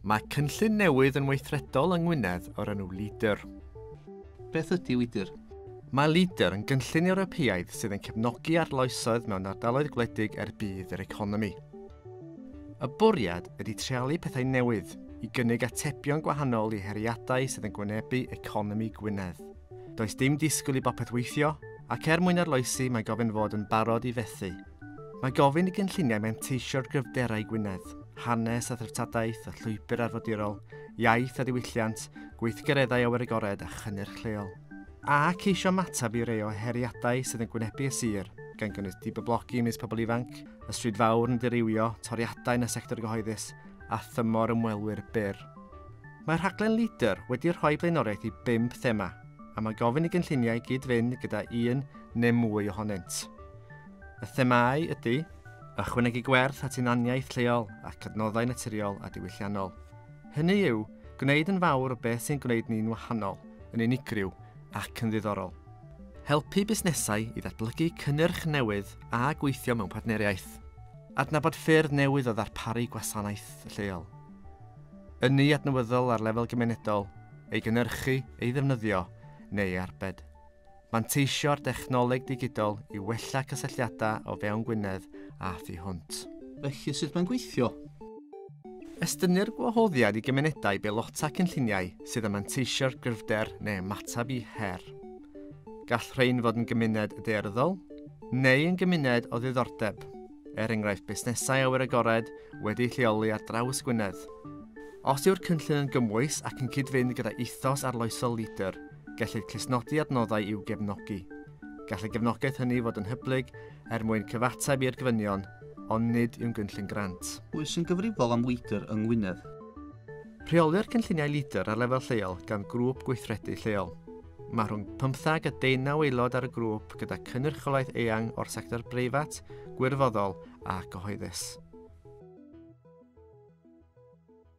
Mae cynllun newydd yn weithredol yng Ngwynedd o'r enw LEADER. Beth ydy LEADER? Mae LEADER yn gynllun Ewropeaidd sydd yn cefnogi arloesoedd mewn ardaloedd gwledig er budd yr economi. Y bwriad ydy treialu pethau newydd i gynnig atebion gwahanol i heriadau sydd yn gwynebu economi Gwynedd. Does dim disgwyl i bopeth weithio, ac er mwyn arloesi mae gofyn fod yn barod i fethu. Mae gofyn i gynlluniau menteisio'r gryfderau Gwynedd, hanes a threftadaeth a llwybr arfordirol, iaith a diwylliant, gweithgareddau awyr agored a chynnyrch lleol. A ceisio ymateb i rei o heriadau sydd yn gwynebu y sir, gan gynnwys dibyblogi ymysg pobl ifanc, y stryd fawr yn dirywio, toriadau yn y sector gyhoeddus a thymor ymwelwyr byr. Mae rhaglen Leader wedi rhoi blaenoriaeth i bump thema, a mae gofyn i gynlluniau gyd-fynd gyda un neu mwy ohonynt. Y themâu ydy, ychwanegu gwerth at hunaniaeth lleol ac adnoddau naturiol a diwylliannol. Hynny yw, gwneud yn fawr o beth sy'n gwneud ni'n wahanol, yn unigryw ac yn ddiddorol. Helpu busnesau i ddatblygu cynnyrch newydd a gweithio mewn partneriaeth. Adnabod ffyrdd newydd o ddarparu gwasanaeth lleol. Ynni adnawyddol ar lefel gymunedol, ei gynyrchu, ei ddefnyddio neu ei arbed. Manteisio'r dechnoleg digidol i wella cysylltiadau o fewn Gwynedd a thu hwnt. Felly, sut mae'n gweithio? Estynir gwahoddiad i gymunedau i beilota cynlluniau sydd yn manteisio'r gryfder neu ymateb i her. Gall rhain fod yn gymuned daearyddol neu yn gymuned o ddiddordeb, er enghraifft busnesau awyr agored wedi'u lleoli ar draws Gwynedd. Os yw'r cynllun yn gymwys ac yn cyd-fynd gyda ethos arloesol Leader, Gellid clustnodi adnoddau i'w gefnogi. Gall y gefnogaeth hynny fod yn hyblyg er mwyn cyfateb i'r gofynion, ond nid yw'n gynllun grant. Pwy sy'n gyfrifol am Leader yng Ngwynedd? Rheolir cynlluniau Leader ar lefel lleol gan Grŵp Gweithredu Lleol. Mae rhwng pymtheg a deunaw aelod ar y grŵp gyda cynrychiolaeth eang o'r sector breifat, gwirfoddol a gyhoeddus.